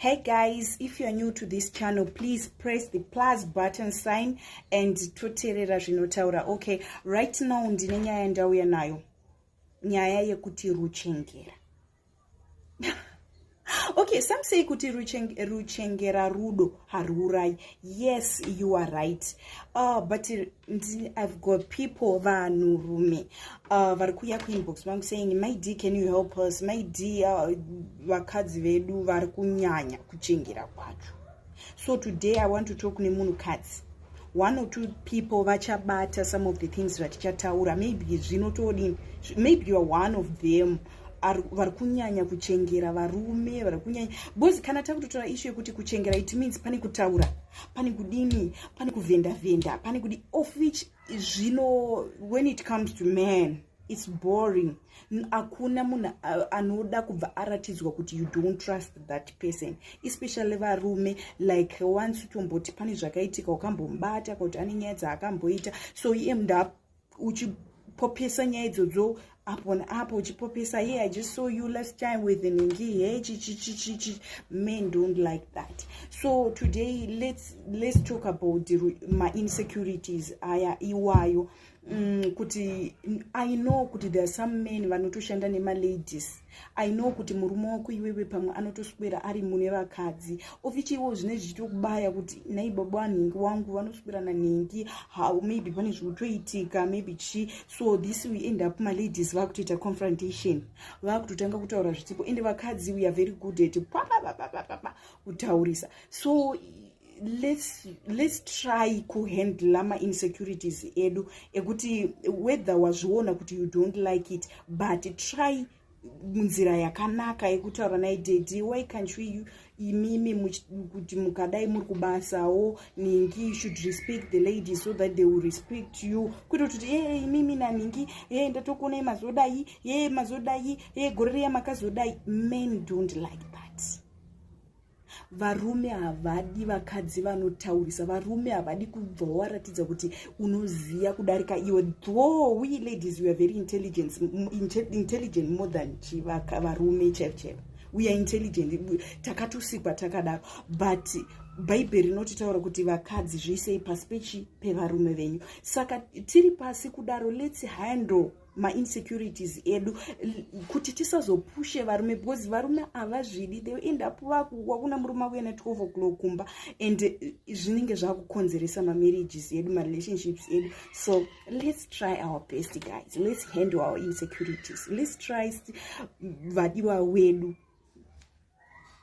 hey guys if youare new to this channel please press the plus button sign and toterera zvinotaura okay right now ndine nyaya yandauya nayo nyaya yekuti ruchengera okay some say kuti ruchengera rudo hariurayi yes you are right uh, but i've got people vanhu rume uh, vari kuuya kuinbox vangu saying my d can you help us my d uh, vakadzi vedu vari kunyanya kuchengera kwacho so today i want to talk nemunhu kadzi one or two people vachabata some of the things zvatichataura maybe zvinotodini maybe youare one of them vari kunyanya kuchengera varume vari kunyanya bcoz kana takutotora ishu yekuti kuchengera it means pane kutaura pane kudini pane kuvhenda vhenda pane kudi of which zvino when it comes to man its boring hakuna munhu anoda kubva aratidzwa kuti you don't trust that person especially varume like once utomboti pane zvakaitika wakambomubata kuti ane nyaya dzaakamboita so iye mnda uchipopesa nyaya idzodzo apo naapo uchipopesa hey i just saw you last time with ningi hey chichichichichi men don't like that so today let's let's talk about my insecurities aya iwayo mm, kuti i know kuti there are some men vanotoshanda nemaladies i know kuti murume wako iwewe pamwe anotoswera ari mune vakadzi ofichiwo zvine zvichitokubaya kuti nai baba wanhingi wangu vanoswera nanhingi how maybe pane zvikutoitika maybe chi so this we end up maladies vakutoita confrontation vakutotanga kutaura zvitipo ende vakadzi we are very good at papapapapapa kutaurisa so let's, let's try kuhandla mainsecurities edu ekuti whether wazviona kuti you don't like it but try munzira yakanaka yekutaura naye dedi why can't we imimi kuti mukadai muri kubasawo ningi should respect the lady so that they will respect you kuita kuti ee imimi naningi ee ndatokuonai mazodai ee mazodai ee gore riya makazodai men don't like that varume havadi vakadzi vanotaurisa varume havadi kubva waratidza kuti unoziva kudarika iwe though we ladies we are very intelligent, intelligent more than chivaka varume chaivo chaivo we are intelligent takatosikwa takadaro but bhaibheri rinototaura kuti vakadzi zviisei pasi pechi pevarume venyu saka tiri pasi kudaro let's handle mainsecurities edu kuti tisazopushe varume because varume havazvidi they end up vakuwa kuna murume akuya na 12 o'clock kumba and eh, zvinenge zvakukonzeresa mamarriages edu marelationships edu so let's try our best guys let's handle our insecurities let's try vadiwa wedu